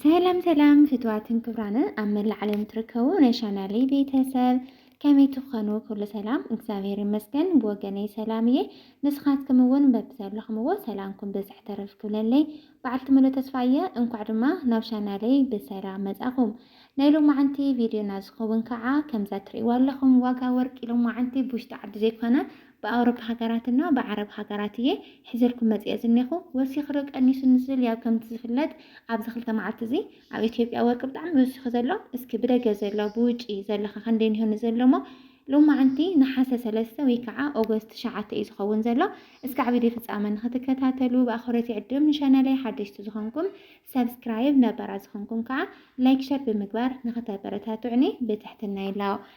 ሰላም ሰላም ፍትዋትን ክብራንን ኣብ መላእ ዓለም ትርከቡ ናይ ቻናለይ ቤተሰብ ከመይ ትኾኑ? ኩሉ ሰላም እግዚኣብሔር ይመስገን ብወገነይ ሰላም እየ። ንስኻትኩም እውን በብዘለኹምዎ ሰላምኩም ብዝሕ ተረፍ ክብለለይ በዓልቲ ሙሉእ ተስፋ እየ። እንኳዕ ድማ ናብ ቻናለይ ብሰላም መጻኹም። ናይ ሎማዓንቲ ቪድዮና ዝኸውን ከዓ ከምዛ ትርእይዋ ኣለኹም ዋጋ ወርቂ ሎማዓንቲ ብውሽጢ ዓዲ ዘይኮነ ብኣውሮፓ ሃገራት እና ብዓረብ ሃገራት እየ ሒዘልኩም መጺኤ ዝኔኹ ወሲኽ ርእ ቀኒሱ ንዝብል ያው ከምቲ ዝፍለጥ ኣብዚ ክልተ መዓልቲ እዚ ኣብ ኢትዮጵያ ወርቂ ብጣዕሚ ወሲኹ ዘሎ እስኪ ብደገ ዘሎ ብውጪ ዘሎኸ ከንደይ ኒሆ ንዘሎ እሞ ሎማዕንቲ ነሓሰ ሰለስተ ወይ ከዓ ኦጎስት ትሽዓተ እዩ ዝኸውን ዘሎ እስካዕ ቪድዮ ፍጻመ ንክትከታተሉ ብኣኽብሮት ይዕድም ንቻናለይ ሓደሽቲ ዝኾንኩም ሰብስክራይብ ነባራት ዝኾንኩም ከዓ ላይክ ሸር ብምግባር ንክተበረታቱዕኒ ብትሕትና ይላው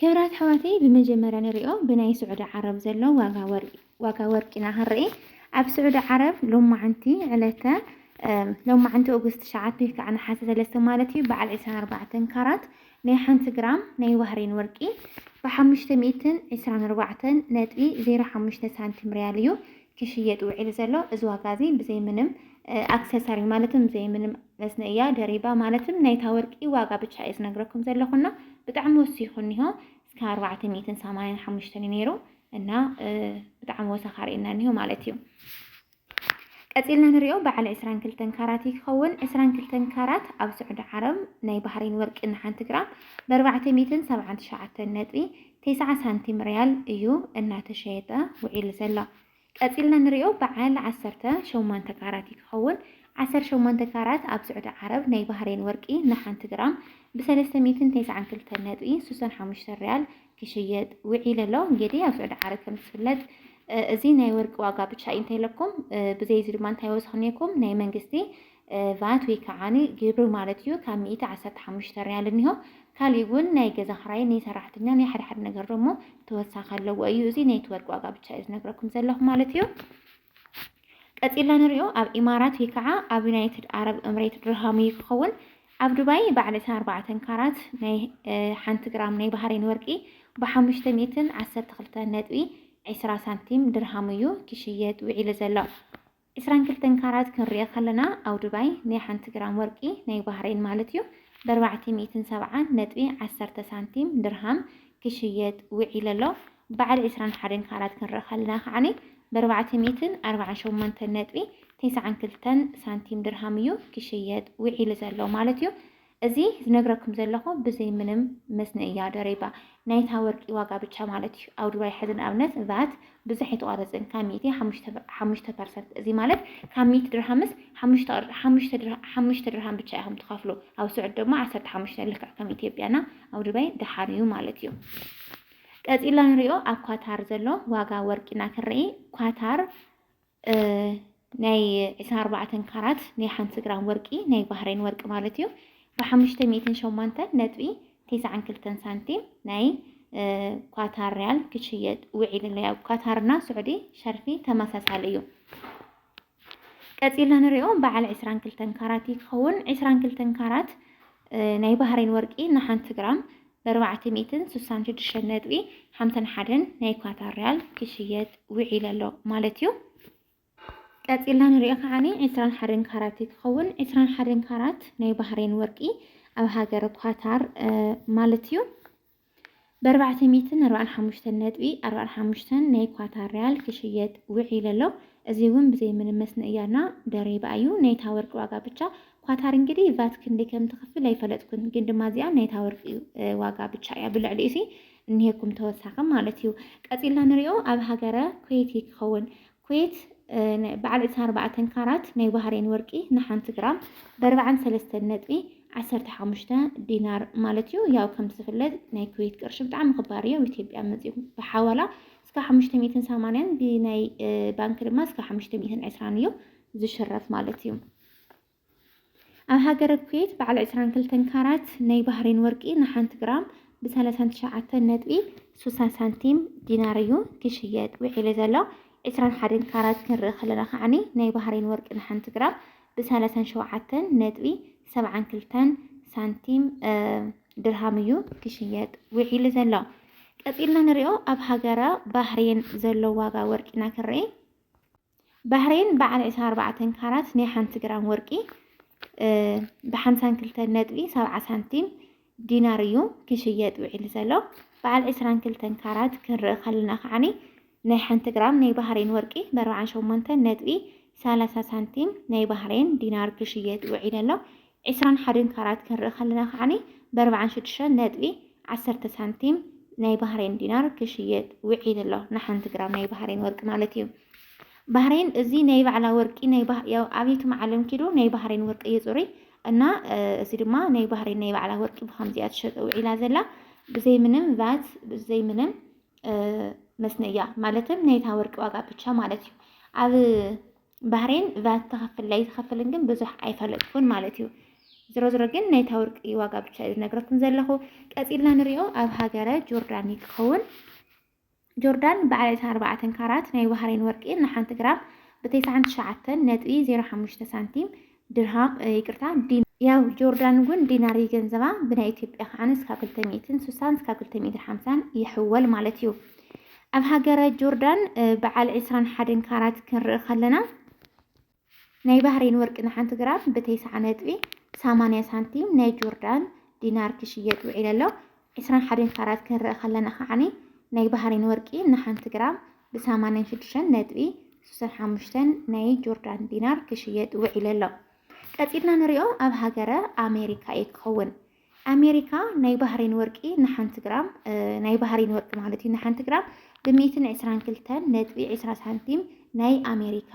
ክብራት ኣሕዋተይ ብመጀመርያ ንሪኦ ብናይ ስዑዲ ዓረብ ዘሎ ዋጋ ወርቂ ኢና ክንርኢ ኣብ ስዑዲ ዓረብ ሎማዓንቲ ዕለተ ሎማዓንቲ ኦገስት ትሽዓተ ወይ ከዓ ነሓሰ ሰለስተ ማለት እዩ በዓል ዕስራን ኣርባዕተን ካራት ናይ ሓንቲ ግራም ናይ ባህሬን ወርቂ ብሓሙሽተ ሚእትን ዕስራን ኣርባዕተን ነጥቢ ዜሮ ሓሙሽተ ሳንቲም ሪያል እዩ ክሽየጥ ውዒሉ ዘሎ እዚ ዋጋ እዚ ብዘይ ምንም ኣክሰሳሪ ማለትም ብዘይ ምንም መስነ እያ ደሪባ ማለትም ናይታ ወርቂ ዋጋ ብቻ እየ ዝነግረኩም ዘለኹና ብጣዕሚ ወሲኹ እኒሆ እስከ ኣርባዕተ ሚእትን ሰማንያን ሓሙሽተን እዩ ነይሩ እና ብጣዕሚ ወሰኻ ርእና እኒሆ ማለት እዩ ቀፂልና ንሪኦ በዓል ዕስራን ክልተን ካራት እዩ ክኸውን ዕስራን ክልተን ካራት ኣብ ስዑዲ ዓረብ ናይ ባህሬን ወርቂ ንሓንቲ ግራም ብኣርባዕተ ሚእትን ሰብዓን ትሽዓተን ነጥቢ ቴስዓ ሳንቲም ርያል እዩ እናተሸየጠ ውዒሉ ዘሎ። ቀጺልና ንሪኦ በዓል ዓሰርተ ሸሞንተ ካራት እዩ ክኸውን። ዓሰርተ ሸሞንተ ካራት ኣብ ስዑዲ ዓረብ ናይ ባህሬን ወርቂ ንሓንቲ ግራም ብ ሰለስተ ሚእትን ቴስዓን ክልተን ነጥቢ ሱሰን ሓሙሽተን ርያል ክሽየጥ ውዒሉ ኣሎ። እንጌዲ ኣብ ስዑዲ ዓረብ ከም ዝፍለጥ እዚ ናይ ወርቂ ዋጋ ብቻ እዩ እንተይለኩም ብዘይ እዚ ድማ እንታይ ወሰኽኔኩም ናይ መንግስቲ ቫት ወይ ከኣ ግብሪ ማለት እዩ ካብ ሚእቲ ዓሰርተ ሓሙሽተ ርያል እኒሆ። ካሊእ እውን ናይ ገዛ ክራይ ናይ ሰራሕተኛ ናይ ሓደ ሓደ ነገር ደሞ ተወሳኺ ኣለዎ እዩ። እዚ ናይቲ ወርቂ ዋጋ ብቻ እዩ ዝነግረኩም ዘለኹ ማለት እዩ። ቀጺልና ንሪኦ ኣብ ኢማራት ወይ ከኣ ኣብ ዩናይትድ ኣረብ እምሬት ድርሃም እዩ ክኸውን። ኣብ ዱባይ በዓል ዕስራን ኣርባዕተን ካራት ናይ ሓንቲ ግራም ናይ ባህሬን ወርቂ ብሓሙሽተ ሚእትን ዓሰርተ ክልተን ነጥቢ ዕስራ ሳንቲም ድርሃም እዩ ክሽየጥ ውዒሉ ዘሎ። ዕስራን ክልተን ካራት ክንሪኢ ከለና ኣብ ዱባይ ናይ ሓንቲ ግራም ወርቂ ናይ ባህሬን ማለት እዩ በርባዕተ ሚእትን ሰብዓን ነጥቢ ዓሰርተ ሳንቲም፣ ድርሃም፣ ክሽየጥ ውዒሉ ኣሎ። በዓል ዕስራን ሓደን ካራት ክንርኢ ከለና ከዓኒ በርባዕተ ሚእትን ኣርባዓን ሸሞንተን ነጥቢ ቴስዓን ክልተን ሳንቲም፣ ድርሃም፣ እዩ ክሽየጥ ውዒሉ ዘሎ ማለት እዩ። እዚ ዝነግረኩም ዘለኹ ብዘይ ምንም መስነ እያ ደሪባ ናይታ ወርቂ ዋጋ ብቻ ማለት እዩ ኣብ ዱባይ ሕዚ ንኣብነት ቫት ብዙሕ ኣይተቋረፅን ካብ ሚእቲ ሓሙሽተ ፐርሰንት እዚ ማለት ካብ ሚእቲ ድርሃምስ ሓሙሽተ ድርሃም ብቻ ኢኹም ትኸፍሉ ኣብ ስዑድ ድማ ዓሰርተ ሓሙሽተ ልክዕ ከም ኢትዮጵያና ኣብ ዱባይ ደሓን እዩ ማለት እዩ ቀፂልና ንሪኦ ኣብ ኳታር ዘሎ ዋጋ ወርቂና ክንርኢ ኳታር ናይ ዕስራን ኣርባዕተን ካራት ናይ ሓንቲ ግራም ወርቂ ናይ ባህሬን ወርቂ ማለት እዩ ብሓሙሽተ ሚእትን ሸሞንተን ነጥቢ ቴስዓን ክልተን ሳንቲም ናይ ኳታር ሪያል ክሽየጥ ውዒሉ ኣሎ። ያው ኳታርና ስዑዲ ሸርፊ ተመሳሳሊ እዩ። ቀፂልና ንሪኦ በዓል ዕስራን ክልተን ካራት ይኸውን ዕስራን ክልተን ካራት ናይ ባህሬን ወርቂ ንሓንቲ ግራም በርባዕተ ሚእትን ስሳን ሽዱሽተን ነጥቢ ሓምሳን ሓደን ናይ ኳታር ሪያል ክሽየጥ ውዒሉ ኣሎ ማለት እዩ። ቀጺልና ንሪኦ ከዓኒ ዕስራን ሓደን ካራት እዩ ክኸውን። ዕስራን ሓደን ካራት ናይ ባህሬን ወርቂ ኣብ ሃገር ኳታር ማለት እዩ በርባዕተ ሚእትን ኣርባዕን ሓሙሽተን ነጥቢ ኣርባዕን ሓሙሽተን ናይ ኳታር ሪያል ክሽየጥ ውዒሉ ኣሎ። እዚ እውን ብዘይ ምንም መስንእያና ደሪባ እዩ። ናይታ ወርቂ ዋጋ ብቻ ኳታር እንግዲህ ቫት ክንደይ ከም ትኽፍል ኣይፈለጥኩን ግን ድማ እዚኣ ናይ እታ ወርቂ ዋጋ ብቻ እያ ብልዕሊኡ ሲ እኒሄኩም ተወሳኺ ማለት እዩ ቀፂልና ንሪኦ ኣብ ሃገረ ኩዌት እዩ ክኸውን ኩዌት በዓል 24 ካራት ናይ ባህሬን ወርቂ ንሓንቲ ግራም በርባዕን ሰለስተን ነጥቢ ዓሰርተ ሓሙሽተ ዲናር ማለት እዩ ያው ከም ዝፍለጥ ናይ ኩዌት ቅርሺ ብጣዕሚ ክባር እዩ ኣብ ኢትዮጵያ መፂኡ ብሓዋላ እስከ ሓሙሽተ ሚእትን ሰማንያን ብናይ ባንክ ድማ እስከ ሓሙሽተ ሚእትን ዕስራን እዩ ዝሽረፍ ማለት እዩ ኣብ ሃገረ ኩዌት በዓል ዕስራን ክልተን ካራት ናይ ባህሬን ወርቂ ንሓንቲ ግራም ብሰላሳን ትሽዓተን ነጥቢ ስሳን ሳንቲም ዲናር እዩ ክሽየጥ ውዒሉ ዘሎ። ዕስራን ሓደን ካራት ክንርኢ ከለና ከዓኒ ናይ ባህሬን ወርቂ ንሓንቲ ግራም ብሰላሳን ሸውዓተን ነጥቢ ሰብዓን ክልተን ሳንቲም ድርሃም እዩ ክሽየጥ ውዒሉ ዘሎ። ቀጺልና ንሪኦ ኣብ ሃገረ ባህሬን ዘሎ ዋጋ ወርቂና ክንርኢ ባህሬን በዓል ዕስራ ኣርባዕተ ካራት ናይ ሓንቲ ግራም ወርቂ ብሓምሳን ክልተን ነጥቢ ሰብዓ ሳንቲም ዲናር እዩ ክሽየጥ ውዒሉ ዘሎ። በዓል ዕስራን ክልተን ካራት ክንርኢ ከለና ከዓኒ ናይ ሓንቲ ግራም ናይ ባህሬን ወርቂ ብኣርባዓን ሸሞንተን ነጥቢ ሰላሳ ሳንቲም ናይ ባህሬን ዲናር ክሽየጥ ውዒሉ ኣሎ። ዕስራን ሓደን ካራት ክንርኢ ከለና ከዓኒ በርብዓን ሽዱሽተን ነጥቢ ዓሰርተ ሳንቲም ናይ ባህሬን ዲናር ክሽየጥ ውዒሉ ኣሎ ንሓንቲ ግራም ናይ ባህሬን ወርቂ ማለት እዩ። ባህሬን እዚ ናይ ባዕላ ወርቂ ናይ ያው ኣብየቱም ዓለም ኪዱ ናይ ባህሬን ወርቂ እዩ ጽሩይ እና እዚ ድማ ናይ ባህሬን ናይ ባዕላ ወርቂ ብከምዚኣ ትሸጠ ውዒላ ዘላ ብዘይ ምንም ቫት ብዘይ ምንም መስነያ ማለትም ናይታ ወርቂ ዋጋ ብቻ ማለት እዩ ኣብ ባህሬን ቫት ትኸፍል ኣይትኸፍልን ግን ብዙሕ ኣይፈለጥኩን ማለት እዩ። ዝሮ ዝሮ ግን ናይታ ወርቂ ዋጋ ብቻ እዩ ዝነግረኩም ዘለኹ። ቀፂልና ንሪኦ ኣብ ሃገረ ጆርዳን እዩ ክኸውን። ጆርዳን በዓል 24 ካራት ናይ ባህሬን ወርቂ ንሓንቲ ግራም ብ99 ነጥቢ 05 ሳንቲም ድርሃም ይቅርታ ዲ ያው ጆርዳን እውን ዲናር ይገንዘባ ብናይ ኢትዮጵያ ከዓነ እስካብ ክልተ ሚእትን ሱሳን እስካብ ክልተ ሚእትን ሓምሳን ይሕወል ማለት እዩ ኣብ ሃገረ ጆርዳን በዓል ዕስራን ሓደን ካራት ክንርኢ ከለና ናይ ባህሬን ወርቂ ንሓንቲ ግራም ብተይስዓ ነጥቢ ሰማንያ ሳንቲም ናይ ጆርዳን ዲናር ክሽየጥ ውዒለ ኣሎ። ዕስራን ሓደን ካራት ክንርኢ ከለና ከዓኒ ናይ ባህሬን ወርቂ ንሓንቲ ግራም ብ ሰማንያን ሽዱሽተን ነጥቢ ሱሰን ሓሙሽተን ናይ ጆርዳን ዲናር ክሽየጥ ውዒሉ ኣሎ። ቀጺልና ንሪኦ ኣብ ሃገረ ኣሜሪካ እዩ ክኸውን። ኣሜሪካ ናይ ባህሬን ወርቂ ንሓንቲ ግራም ናይ ባህሬን ወርቂ ማለት እዩ ንሓንቲ ግራም ብ ሚእትን ዕስራን ክልተን ነጥቢ ዕስራ ሳንቲም ናይ ኣሜሪካ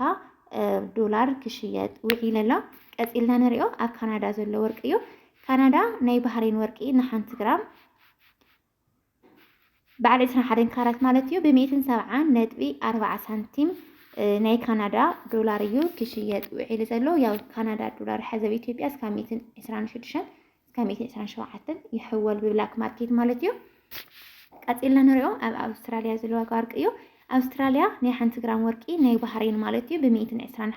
ዶላር ክሽየጥ ውዒሉ ኣሎ። ቀጺልና ንሪኦ ኣብ ካናዳ ዘሎ ወርቂ እዩ። ካናዳ ናይ ባህሬን ወርቂ ንሓንቲ ግራም በዓል ዕስራን ሓደን ካራት ማለት እዩ ብሚእትን ሰብዓን ነጥቢ ኣርባዓ ሳንቲም ናይ ካናዳ ዶላር እዩ ክሽየጥ ውዒሉ ዘሎ። ያው ካናዳ ዶላር ሐዚ ኣብ ኢትዮጵያ እስካብ ሚእትን ዕስራን ሽዱሽተን እስካብ ሚእትን ዕስራን ሸውዓተን ይሕወል ብብላክ ማርኬት ማለት እዩ። ቀፂልና ንሪኦ ኣብ ኣውስትራሊያ ዘሎ ዋጋ ወርቂ እዩ። ኣውስትራሊያ ናይ ሓንቲ ግራም ወርቂ ናይ ባህሬን ማለት እዩ ብሚእትን ዕስራን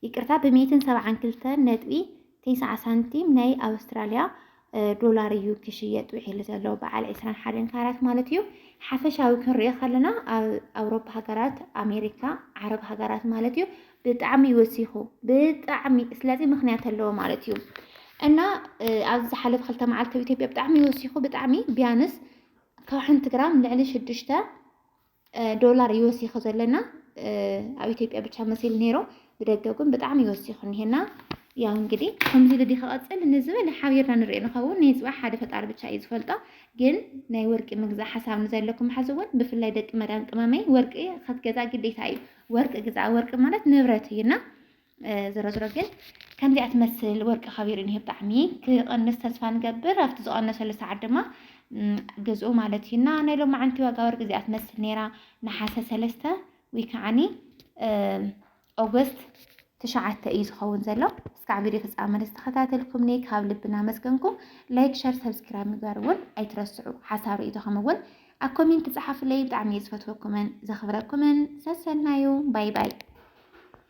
ይቅርታ ብሚእትን ሰብዓን ክልተ ነጥቢ ቴስዓ ሳንቲም ናይ ኣውስትራልያ ዶላር እዩ ክሽየጥ ውዒሉ ዘሎ በዓል ዕስራን ሓደን ካራት ማለት እዩ። ሓፈሻዊ ክንሪኦ ከለና ኣብ ኣውሮፓ ሃገራት፣ ኣሜሪካ፣ ዓረብ ሃገራት ማለት እዩ ብጣዕሚ ወሲኹ ብጣዕሚ ስለዚ ምክንያት ኣለዎ ማለት እዩ እና ኣብዚ ዝሓለፈ ክልተ መዓልቲ ኣብ ኢትዮጵያ ብጣዕሚ ወሲኹ ብጣዕሚ ቢያንስ ካብ ሓንቲ ግራም ልዕሊ ሽዱሽተ ዶላር ይወሲኹ ዘለና ኣብ ኢትዮጵያ ብቻ መሲል ነይሮ ብደገ ግን ብጣዕሚ ይወሲኹ እኒሄና ያው እንግዲህ ከምዚ ልዲ ክቐፅል ንዝበለ ሓቢርና ንሪኦ ንኸውን ናይ ፅባሕ ሓደ ፈጣሪ ብቻ እዩ ዝፈልጦ ግን ናይ ወርቂ ምግዛእ ሓሳብ ንዘለኩም ሓዚ እውን ብፍላይ ደቂ መዳም ቅመመይ ወርቂ ከትገዛ ግዴታ እዩ ወርቂ ግዛ ወርቂ ማለት ንብረት እዩና ዝሮ ዝሮ ግን ከምዚኣ ትመስል ወርቂ ከቢሩ እኒሄ ብጣዕሚ ክቐንስ ተስፋ ንገብር ኣብቲ ዝቐነሰሉ ሰዓት ድማ ገዝኡ ማለት እዩ እና ናይ ሎማዓንቲ ዋጋ ወርቂ እዚኣ ትመስል ነይራ ነሓሰ ሰለስተ ወይ ከዓኒ ኦገስት ትሽዓተ እዩ ዝኸውን ዘሎ እስካዕ ቪድዮ ፍፃመ ዝተኸታተልኩምኒ ካብ ልብና መስገንኩም ላይክ ሸር ሰብስክራይብ ምግባር እውን ኣይትረስዑ ሓሳብ ርእቶኹም እውን ኣብ ኮሜንት ፀሓፍለይ ብጣዕሚ ዝፈትወኩምን ዘኽብረኩምን ሰሰናዩ ባይ ባይ